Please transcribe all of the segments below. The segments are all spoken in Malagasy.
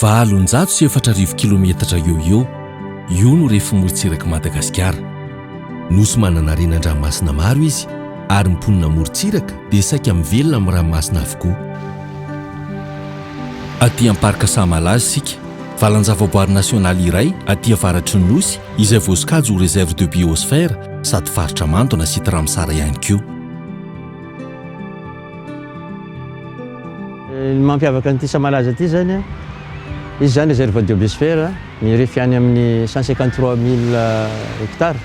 Valonjato sy efatra arivo kilometatra eo eo, io no refy morontsirak'i Madagasikara. Nosy manana renan-dranomasina maro izy ary ny mponina amorontsiraka dia saika mivelona amin'ny ranomasina avokoa. Aty amin'ny Parc Sahamalaza isika, valan-javaboary nasionaly iray aty avaratry ny Nosy izay voasokajy ho Réserve de Biosphère sady faritra mando na Site Ramsar ihany koa. Ny mampiavaka an'ity Samalaza ity izany, izy izany Réserve de Biosphère, mirefy any amin'ny cent cinquante trois mille hectares.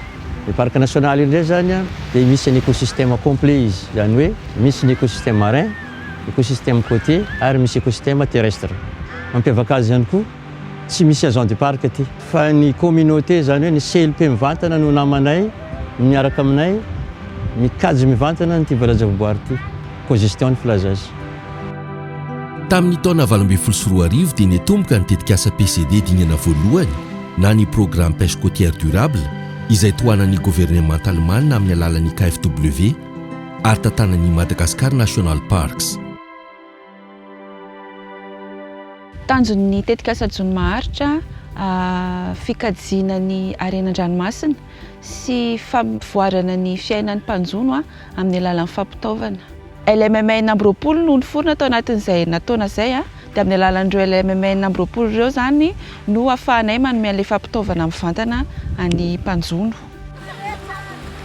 Ny Parc National io indray izany dia misy an'ny écosystème complet izy, izany hoe misy ny écosystème marin, écosystème côtier ary misy écosystème terrestre. Mampiavaka azy ihany koa. Tsy misy agent du parc aty. Fa ny communauté zany hoe ny CLP mivantana no namanay miaraka aminay mikajy mivantana an'ity valajavoboary ity. Cogestion ny filaza azy. Tamin'ny taona valo ambin'ny folo sy roa arivo dia niatomboka ny tetikasa PCD dingana voalohany na ny Programme Pêche Côtière Durable izay tohanan'ny governemanta alemana amin'ny alalan'ny KfW ary tantanan'ny Madagascar National Parks. Tanjon'ny tetikasa Jono Maharitra, fikajiana ny harena an-dranomasina sy fampivoarana ny fiainan'ny mpanjono amin'ny alalan'ny fampitaovana. LMM enina amby roapolo no niforona tao anatin'izay herinataona izay, dia amin'ny alalan'ireo LMM enina amby roapolo ireo izany no ahafahanay manome an'ilay fampitaovana mivantana ny mpanjono.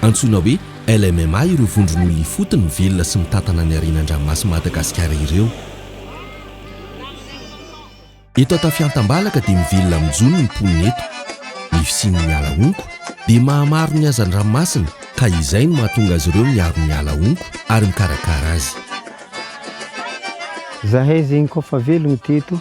Antsoina hoe LMMA ireo vondron'olona ifotony mivelona sy mitantana ny harena an-dranomasin'i Madagasikara ireo. Eto Antafiantambalaka dia mivelona amin'ny jono ny mponina eto. Ny fisian'ny ala honko dia mahamaro ny hazan-dranomasina ka izay no mahatonga azy ireo miaro ny ala honko ary mikarakara azy. Zahay zegny koa fa velogno teto.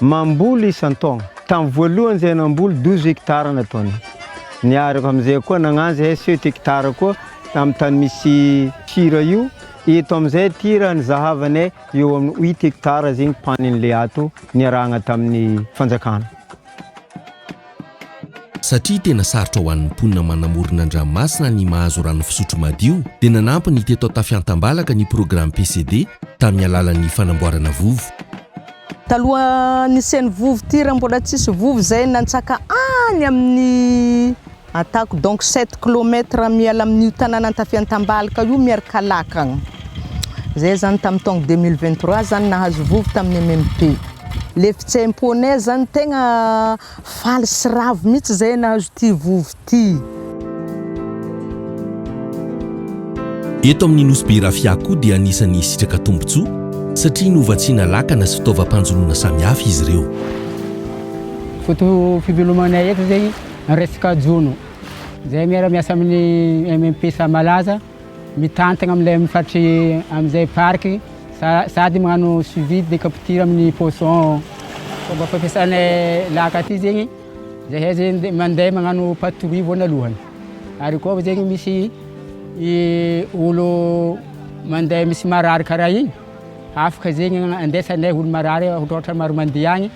Mamboly isan-taogna. Tamin'ny voalohany izay namboly douze hectares nataony. Niaraka amin'izay koa nagnanja ihay sept hectares koa amin'ny tany misy tir io. Eto amin'izay tir nizahavagnay eo amin'ny huit hectares zegny panin'ilay ato niarahagna tamin'ny fanjakana. Satria tena sarotra ho an'ny mponina manamorona an-dranomasina ny mahazo rano fisotro madio dia nanampy ny teto Antafiantambalaka ny programme PCD tamin'ny alalan'ny fanamboarana vovo. Taloha nisian'ny vovo ity raha mbola tsisy vovo izay nantsaka any amin'ny atako donc sept kilomètre miala amin'io tanàna Antafiantambalaka io Miarikalaka agny. Izay zany tamin'ny taogno deux mille vingt trois zany nahazo vovo tamin'ny MMP. Le fitseny poney zany tegna faly sy ravo mihitsy zay nahazo ty vovo ty. Eto amin'ny Nosy Be Rafia koa dia anisan'ny hisitraka tombontsoa satria novatsiana lakana sy fitaovam-panjonoana samihafa izy ireo. Foto-pivelomanay eto zay resaka jono zay miara-miasa amin'ny MMPSA malaza. Mitantana amin'ilay mifatry amin'izay parc sady magnano suivi de capture amin'ny poisson. Fomba fampiasana laka aty zegny, zahay zegny mandeha magnano patrouille voanalohany. Ary koa zegny misy olo mandeha misy marary karaha igny, afaka zegny andesanay olo marary, ohatra maro mandeha agny.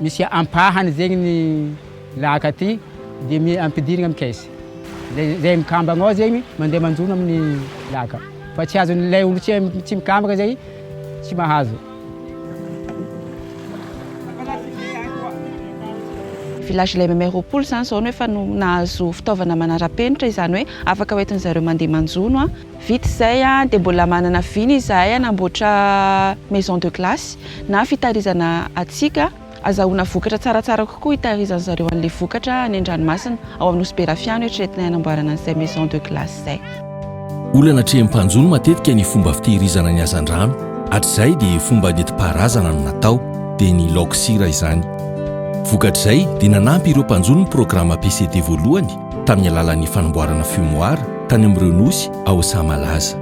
Misy ampahany zegny ny laka ty de ampidirigny amin'ny caisse. Zay zay mikambagna ao zegny mandeha manjono amin'ny laka fa tsy azon'ilay olo tsy tsy mikambagna zay tsy mahazo. Village lay maimay roapolo zany zao no efa no nahazo fitaovana manarapenitra izany hoe afaka hoentin'zareo mandeha manjono a. Vita izay dia mbola manana vina izahay hanamboatra maison de glace na fitahirizana hatsiaka hazahoana vokatra tsaratsara kokoa hitahirizan-dry zareo an'ilay vokatra any an-dranomasina ao amin'ny Nosy Berafia no eritreretinay hanamboarana an'izay maison de glace izay. Olana atrehin'ny mpanjono matetika ny fomba fitehirizana ny hazandrano, hatrizay dia fomba nentim-paharazana no natao, dia ny laoka sira izany. Vokatr'izay dia nanampy ireo mpanjono ny programa PCD voalohany tamin'ny alalan'ny fanamboarana fumoir tany amin'ireo nosy ao saha malaza.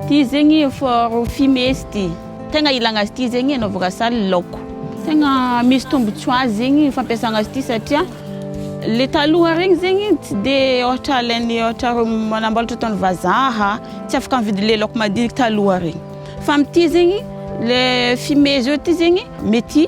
Ity zegny for fumée sy ty. Tegna ilagna azy ity zegny anaovako asali laoko. Tegna misy tombotsoa azy zegny fampiasagna azy ity satria le taloha regny zegny tsy de ôhatra alain'ny ôhatra reo manamboatra ataon'ny vazaha tsy afaka mividy le laoko madiniky taloha regny fa amty zegny le fumée zao ty zegny mety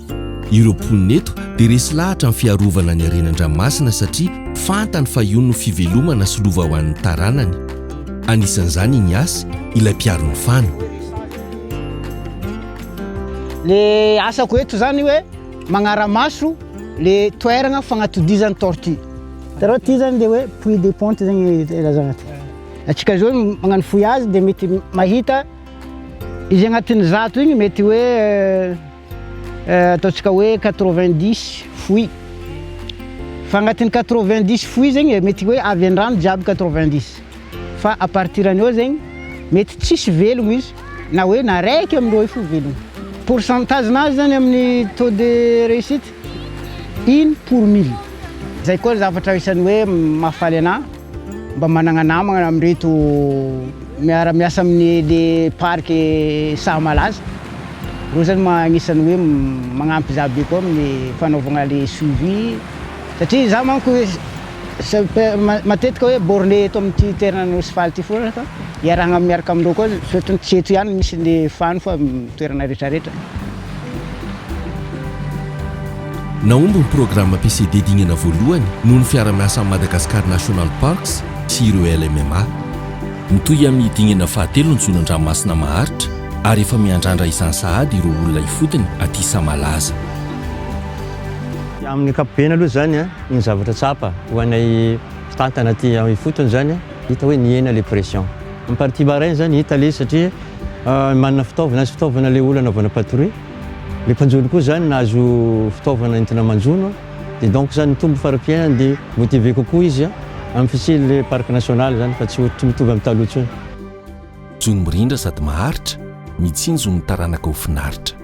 Ireo mponina eto dia resy lahatra amin'ny fiarovana ny harenan-dranomasina satria fantany fa io no fivelomana sy lova ho an'ny taranany. Anisan'izany i Nias, ilay mpiaro ny fano. Ilay asako eto izany hoe magnara-maso ilay toerana fagnatodizan'ny tortue. Hitanao ity izany dia hoe puits de ponte izany ilazana ity. Antsika izao magnano fouillage dia mety mahita izy agnatin'ny zato igny mety hoe ataontsika hoe quatre vingt dix fouille fa agnatin'ny quatre vingt dix fouille zegny e, mety hoe avy an-drano jiaby quatre vingt dix fa à partir an'i eo zegny mety tsisy velogno izy na hoe na raiky amin'ireo io fo velogno, pourcentage-nazy zany amin'ny taux de réussite Une pour mille. Zay koa ny zavatra isan'ny hoe mahafaly anahy mba managna namagna amin'ireto miara miasa amin'ny le parc saha malaza. Reo zany ma- agnisan'ny hoe magnampy za be koa amin'ny fanaovagna le suivi satria za manko hoe sa- pe- ma- matetika hoe borne eto amin'ity toerana Nosy faly ty foana fa iarahagna miaraka amindreo koa surtout tsy eto ihany misy le fano fa toerana retraretra. Nahomby ny programa PCD dingana voalohany noho ny fiara-miasan'ny Madagascar National Parks sy ireo LMMA. Mitohy amin'ny dingana fahatelo ny zonan-dranomasina maharitra ary efa miandrandra izany sahady ireo olona ifotony aty Sahamalaza. Amin'ny ankapobeny aloha izany ny zavatra tsapa ho anay mpitantana aty ifotony izany hita hoe nihena ilay pression. Ny partie marin izany hita ilay izy satria Manana fitaovana sy fitaovana ilay olona anaovana patrouille. Ilay mpanjono koa izany nahazo fitaovana entina manjono dia donc izany mitombo fari-piainany dia motivé kokoa izy amin'ny fisian'ilay parc national izany fa tsy tsy mitovy amin'ny taloha intsony. Jono mirindra sady maharitra, mitsinjo ny taranaka ho finaritra.